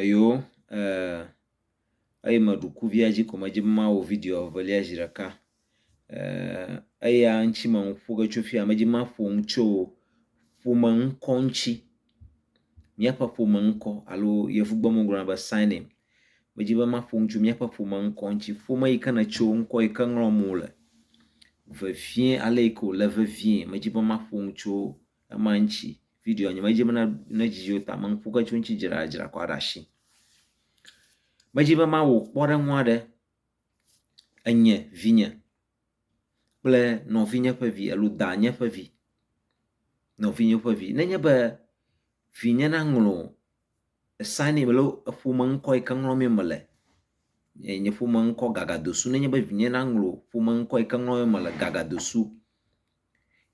Eyo, ee, eye meɖu kuvia dzi ko medzi be mawɔ video evelia zi ɖeka. Ee, eya ŋuti me nu ƒo ge tso fia, medzi maƒo nu tso ƒome ŋkɔ ŋuti. Míaƒe ƒome ŋkɔ alo yevugbe me wogblɔna be surname. Medzi be maƒo nu tso míaƒe ƒome ŋkɔ ŋuti. Ƒome yi ke nètso, ŋkɔ yi ke ŋlɔm wole vevie, ale yi ke wòle vevie, medzi be maƒo nu tso ema ŋtsi videoa nye medzi be ne dzidzi wo ta me ŋku ke tso ŋtsi dzi ɖa dzra kɔ ɖe asi medzi be ma wo kpɔ ɖe ŋua ɖe enye vinye kple nɔvinye ƒe vi elu da nye ƒe vi nɔvinye ƒe vi nenye be vinye na ŋlɔ esani mele eƒome ŋkɔ yi ke ŋlɔ mi mele nye ƒome ŋkɔ gagadosu nenye be vinye na ŋlɔ ƒome ŋkɔ yi ke ŋlɔ mi mele gagadosu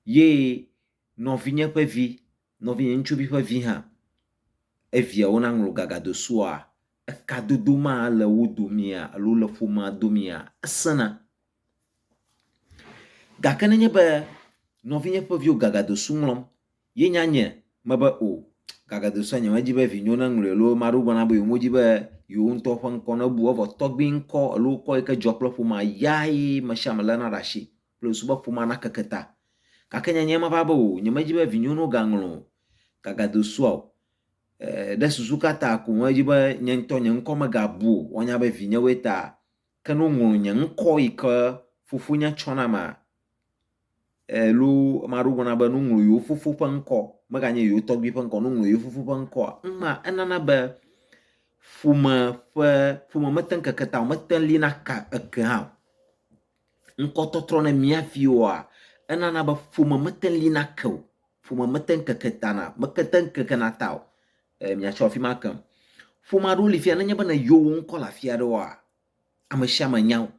ye nɔvinye ƒe vi, nɔvinye ŋutsuvi ƒe vi hã, eviawo naŋlɔ gagado sua? Ekadodo ma le wo domea alo le ƒomea domea? Esẽna. Gake ne enye be nɔvinye ƒe viwo gagado su ŋlɔm ye nya nye mebe o, gagado sua nyemedi be vinyewo naŋlɔe alo ame aɖewo gblɔ na be yewomedi be yewo ŋutɔ ƒe ŋkɔ nabu o, evɔ tɔgbui ŋkɔ alo ŋkɔ yi ke dzɔ kple ƒomea, yae ame sia ame léna ɖe asi. kple subɔƒomea nakeke ta. Gake nye nyee meva be o, nyemedi be vinyɔnuwo gaŋlɔ o, gagado sua o. E, ɖe susu ka ta ko medi be nye ŋutɔ nye ŋkɔ megabu o, woanya be vinyewoe ta? Ke ne woŋlɔ nye ŋkɔ yi ke fofonye tsɔ nama? E, loo, ame aɖewo gblɔna be ne woŋlɔ yewo fofo ƒe ŋkɔ, meganye yewo tɔgbui ƒe ŋkɔ, ne woŋlɔ yewo fofo ƒe ŋkɔa, ŋma enana be ƒome ƒe, ƒome mete ŋu keke ta o, mete ŋu li naka eke hã o. Ŋkɔtɔtrɔ ne mía viwoa, enana be ƒome mete ŋu lina ke o. Ƒome mete ŋu keke ta na, mete ŋu kekena ta o. E, miatsɔ afi ma kem. Ƒome aɖewo li fia nenye be ne yɔ wo ŋkɔ le afi aɖewoa, ame sia ame nya wo.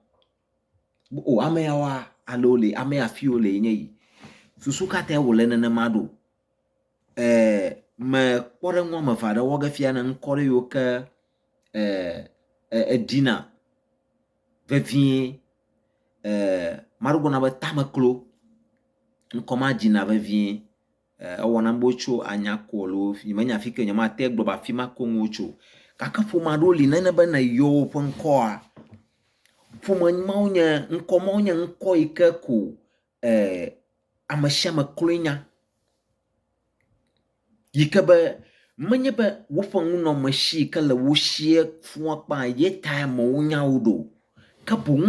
O, ame yawoa, ale wole, ame ya afi wole enye yi. Susu ka tae wòle nenema ɖo? me kpɔɖeŋu wɔme eve aɖe wɔ ge fia ne ŋkɔ ɖe yiwo ke eɖina vevie. Maɖe gblɔ na be tameklo ŋkɔ ma dzina vevie ewɔna be wotso anya ko alo nyemenya fike nyemate gblɔ be afi ma ko ŋu wotso o. Gake ƒome aɖewo li nenye be ne eyɔ woƒe ŋkɔa, ƒome mawo nye ŋkɔ mawo nye ŋkɔ yi ke ko eh, ame sia ame kloe nya yi ke be menye be woƒe ŋunɔme si yi ke le wo sie fua kpã ye ta amewo nya wo ɖo, ke boŋ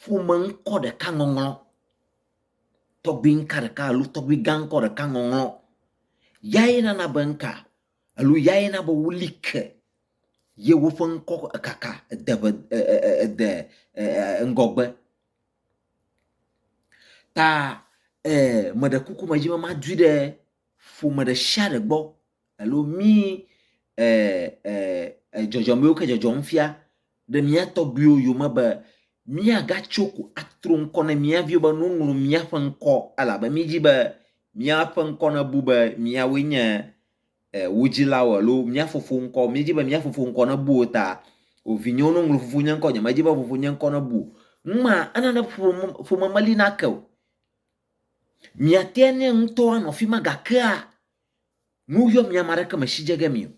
ƒome ŋkɔ ɖeka ŋɔŋlɔ, tɔgbi ŋka ɖeka alo tɔgbi gã ŋkɔ ɖeka ŋɔŋlɔ, yae nana be ŋka alo yae na be woli ke ye woƒe ŋkɔ kaka ede ede ŋgɔgbe. Ta eh, meɖe kuku medzi be madui ɖe ƒome ɖe sia ɖe gbɔ alo mí eh, eh, eh, dzɔdzɔmewo ke dzɔdzɔm fia ɖe mía tɔgbuiwo yome be míagatso ko atro ŋkɔ ne mía viwo be nuŋlɔ míaƒe ŋkɔ elabe mídi be míaƒe ŋkɔ nebu be míawoe nye wo dzilawo alo mía fofo ŋkɔ. Míedi be mía fofo ŋkɔ nebu o ta o. Vinyewo, ne woŋlɔ fofo nye ŋkɔ, nyemedi be fofo nye ŋkɔ nebu o. Numa ena ne ƒome meli na ke o. Miate ne ŋutɔ anɔ afi ma gakea nu yɔ mi ame aɖeke me si dze ge mi o.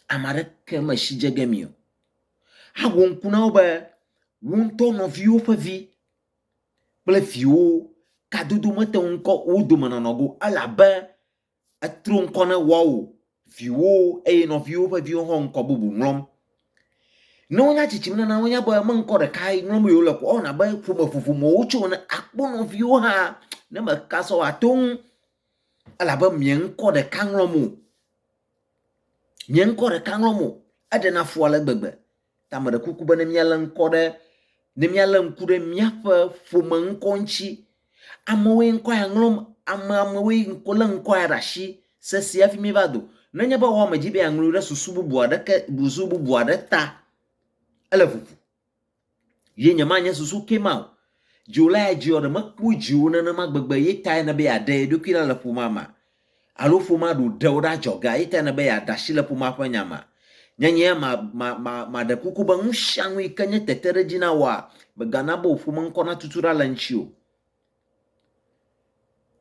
Ame aɖeke me si dze ge mi o. Awɔ ŋku na wo be wo ŋutɔ nɔviwo ƒe vi kple viwo kadodo mete ŋu kɔ wo dome nɔnɔ go elabe Etro ŋkɔ ne woawo viwo eye nɔviwo ƒe viwo hã ŋkɔ bubu ŋlɔm. Ne wonya tsitsim nana wonya be me ŋkɔ ɖeka ŋlɔm ye wole ko ewɔna be ƒome vovo me wotso ene akpɔ nɔviwo hã ne meka sɔ wa to ŋu elabe mia ŋkɔ ɖeka ŋlɔm o. Mia ŋkɔ ɖeka ŋlɔm o. Eɖena fu ale gbegbe. Ta meɖe kuku be ne míalé ŋkɔ ɖe, ne míalé ŋku ɖe míaƒe ƒome ŋkɔ ŋuti. Amewoe ŋkɔ ya ŋlɔm, ame amewoe ŋkɔ lé ŋkɔ ya ɖe asi sesĩe hafi míeva do. Nenye be woame dzi be yeaŋlɔe ɖe susu bubu aɖeke, busu bubu aɖe ta, ele ʋuʋu. Ye nyemanye susu ke ma o. Dziwòla ya dziɔ ɖe mekpɔe dziwò nenema gbegbe ye tae nebe yeaɖe ye ɖokui ɖa le ƒomea mea? alo ƒomea ɖo ɖe wò ɖe adzɔgea, eyi tae nèbe yeade asi le ƒomea ƒe nya mea? Nye nyea ma, ma, ma, maɖe kuku be nusianu yi ke nye teteɖedzi na wòa, mègana be wò ƒomeŋkɔ natutu ɖa le ŋutiwò.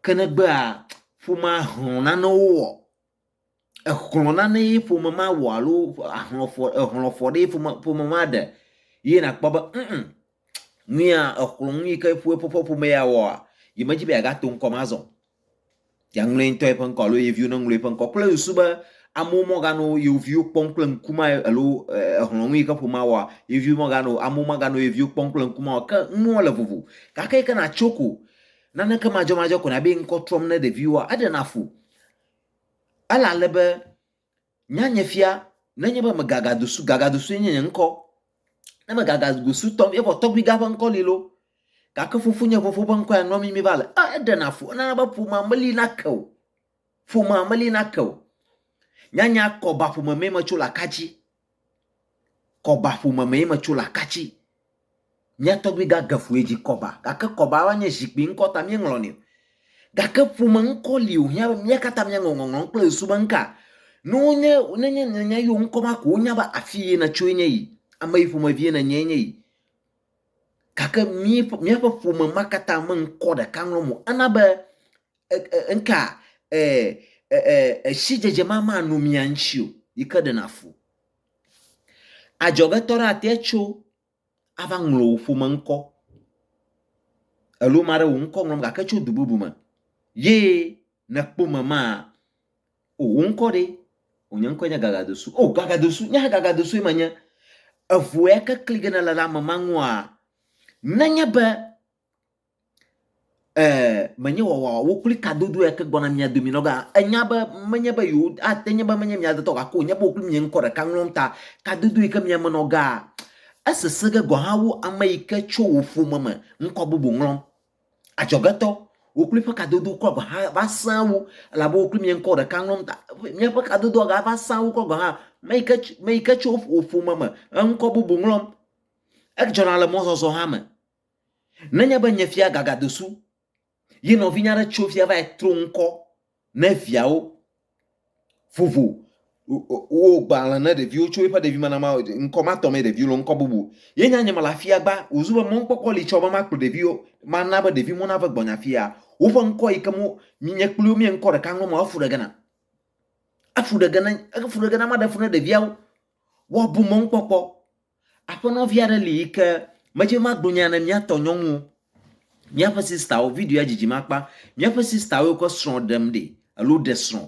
Ke ne egbea ƒomea hlɔ̃ nanewoa? Exlɔ̃ nane ye ƒome ma wɔ alo ahlɔ̃ fɔ, ehlɔ̃ fɔ ɖee ƒome, ƒome ma ɖe ye nakpɔ be ŋ, ŋ, Nuya exlɔ nu yi ke ƒe eƒe ƒome ya wɔa, yi me dzi be yeaga to ŋkɔ me azɔ o. Ye aŋlɔ ye ŋutɔ yeƒe ŋkɔ alo ye viwo ne ŋlɔ yeƒe ŋkɔ kple susu be amewo me ga nɔ yewo viwo kpɔm kple ŋku ma alo exlɔ nu yi ke ƒomea wɔa, ye viwo me ga nɔ, amewo me ga nɔ ye viwo kpɔm kple ŋku ma o. Ke nua le vovo. Gake yi ke na tso ko, naneke madzɔmadzɔ ko na be ŋkɔ trɔm ne ɖeviwoa, eɖe na fu. Ele ale be Nya nye fia, nenye be megagadusu, gagadusue nye nye ŋkɔ, ne megagadusu tɔ, evɔ tɔgbui gã ƒe ŋkɔ li loo, gake fofonye fofo ƒe ŋkɔ ya nua mimi va le. A eɖena fu, enana be ƒomea meli na ke o, ƒomea meli na ke o. Nyanya kɔ ba ƒome mee metso le akadzi. Kɔba ƒome mee metso le Akatsi. Mía tɔgbui gã Gefue dzi kɔba gake kɔba va nye zikpui ŋkɔ ta míeŋlɔnɛ o. Gake ƒome ŋkɔ li wòhiã be mía katã míaŋlɔ ŋɔŋlɔ kple ŋsu be ŋka. Ne wonye nenye nènya yewo ŋkɔ ma ko wonya be afi ye nètsoe nye yi, ame yi ƒomevie nènye nye yi. Gake mí míaƒe ƒome ma katã me ŋkɔ ɖeka ŋlɔm o. Ena be ŋka sidzedze ma manɔ mia ŋuti o yi ke ɖena fu. Adzɔgetɔ aɖe ate tso ava ŋlɔ wò ƒome ŋkɔ alo ame aɖe wò ŋkɔ ŋlɔm gake tso du bubu me ye nèkpɔ ame ma, o wò ŋkɔ ɖe? O nye ŋkɔe nye Gagadosu. O Gagadosu, nye hã Gagadosue menye. Eŋu ya ke kli ge nèle ɖe ame ma ŋua, nenye be eh, menye wɔwɔwɔ wokpli kadodo ya ke gbɔna mia domi nɔga. Enya be menye be yewo ate nye be menye mia detɔ gake wònye be wokpli mia ŋkɔ ɖeka ŋlɔm ta. Kadodo yi ke mia me nɔgaa, esese ge gɔ̃ hã wu ame yi ke tso wò ƒome me ŋkɔ bubu ŋlɔm. Adzɔgetɔ, wokpli ƒe kadodo kura gɔ̃ hã va sẽa wu elabe wokpli mia ŋkɔ ɖeka ŋlɔm ta. Miaƒe kadodoa gava sẽa wu kura gɔ̃ hã me yi ke me yi ke tso wò ƒome me eŋkɔ bubu ŋlɔm. Edzɔna le mɔzɔzɔ hã me. Nenye be nye fia gagado su ye nɔvinye aɖe tso fia va yi tro ŋkɔ ne viawo vovo wo gbalẽ ne ɖeviwo tso eƒe ɖevimenama ŋkɔ ma tɔ mee ɖeviwo le ŋkɔ bubu ye nya nye mele afia gba wòzu be mɔkpɔkpɔ li tsɔ be makplɔ ɖeviwo mana be ɖeviwo nave gbɔnye afia woƒe ŋkɔ yi ke mo nye kpli wo mie ŋkɔ ɖeka ŋlɔ ma efu ɖe gena efu ɖe gena efu ɖe gena maɖe fu ne ɖeviawo woabu mɔkpɔkpɔ Aƒenɔvi aɖe li yi ke medze be magblɔ nya ne míatɔ nyɔnu o. Míaƒe sistawo, videoa dzidzim akpa, míaƒe sistawo yiwo ke srɔ̃ ɖem ɖi alo ɖe srɔ̃.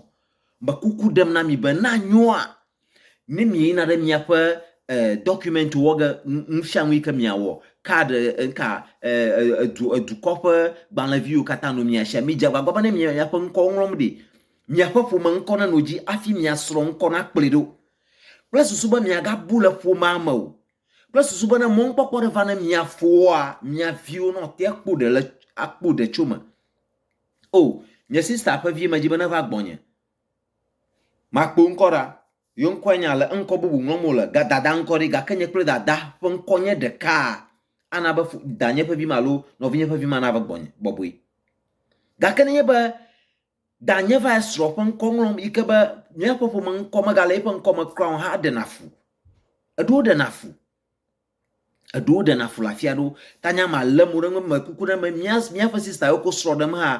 Me kuku ɖem na mi be ne anyoa, ne mieyina ɖe miaƒe e dɔkumɛntiwo wɔ ge nufianu yi ke miawɔ, card e eka e edu edukɔ ƒe gbalẽvi yiwo katã nɔ mia sia, midze agbagba be ne miaƒe ŋkɔwo ŋlɔm ɖi. Miaƒe ƒome ŋkɔ nenɔ edzi hafi mia srɔ̃ ŋkɔ nakplɔe ɖo. kple susu be miagabu le ƒomea me o, kple susu be ne mɔnukpɔkpɔ ɖe va ne mia foa, mia viwo ne woate akpɔ ɖe le akpɔ ɖe tso me. O, nye sista ƒe vi medzi be neva gbɔnye. Makpo ŋkɔ ɖa. Yewo ŋkɔe nye ale, eŋkɔ bubu ŋlɔm wole, ga dada ŋkɔ ɖi, gake nye kple dada ƒe ŋkɔ nye ɖeka. Ana be danye ƒe vi ma alo nɔvinye ƒe vi ma nava gbɔnye bɔbɔe. Gake nenye be Danye va esrɔ̃ ƒe ŋkɔ ŋlɔm yi ke be míaƒe ƒome ŋkɔ megale eƒe ŋkɔ me kura o hã eɖena fu. Eɖewo ɖena fu. Eɖewo ɖena fu le afi aɖewo. Ta nye ama lé mo ɖe eŋu be me kuku ɖe me mía míaƒe sista yiwo ko srɔ̃ ɖem hã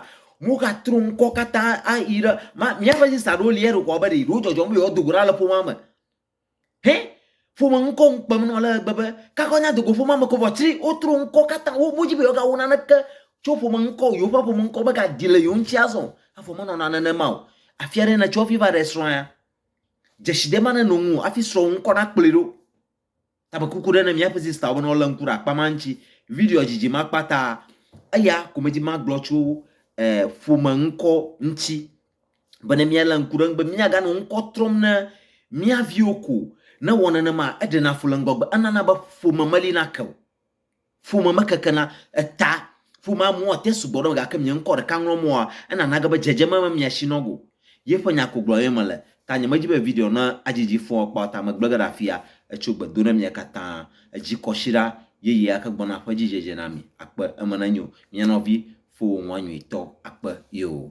mogatro ŋkɔ katã ayi ɖe ma míaƒe sista ɖewo li eɖokɔ be ɖe yewo dzɔdzɔm be yewoado go ɖa le ƒomea me. Hɛ, ƒome ŋkɔ ŋu kpem nɔ ale gbegbe be kakɔ nya dogo ƒomea me ko vɔ tsri wotro ŋkɔ katã wo modzi be yewogawo naneke tso ƒome ŋkɔ o yewoƒe ƒome ŋkɔ megadzi le yewo ŋuti azɔ avɔ menɔna nenema o afi aɖe nètso hafi va ɖe srɔ̃ ya dzesi ɖe maneno ŋu o hafi srɔ̃wò ŋkɔ nakplɔe ɖo Tabekuku ɖe ne miaƒe sister be ne wole ŋku ɖe akpa ma ŋuti. Videoa dzidzim akpa ta eya ko medi magblɔ tso eh, ƒome ŋkɔ ŋuti be ne miale ŋku ɖe eŋu be miaganɔ ŋkɔ trɔm ne mia viwo ko. Ne wɔ nenema eɖena fu le ŋgɔgbe, enana be ƒome meli nake o. Ƒome mekekena eta, ƒomea mua te sugbɔ ɖe me gake nye ŋkɔ ɖeka ŋlɔm wɔa, enana age be dzedzeme me mia shi nɔgo. Yeƒe nya ko gblɔm ye mele, ta nyemedi be video na adzidzi fɔ akpa ta megble ge ɖe afia. Etso gbe do ɖe mia katã. Edzi kɔsiɖa yeye ake gbɔna ƒe dzi dzedze na mi. Akpe. Eme nenyo, mia nɔvi fowonua nyuitɔ. Akpe. Yoo.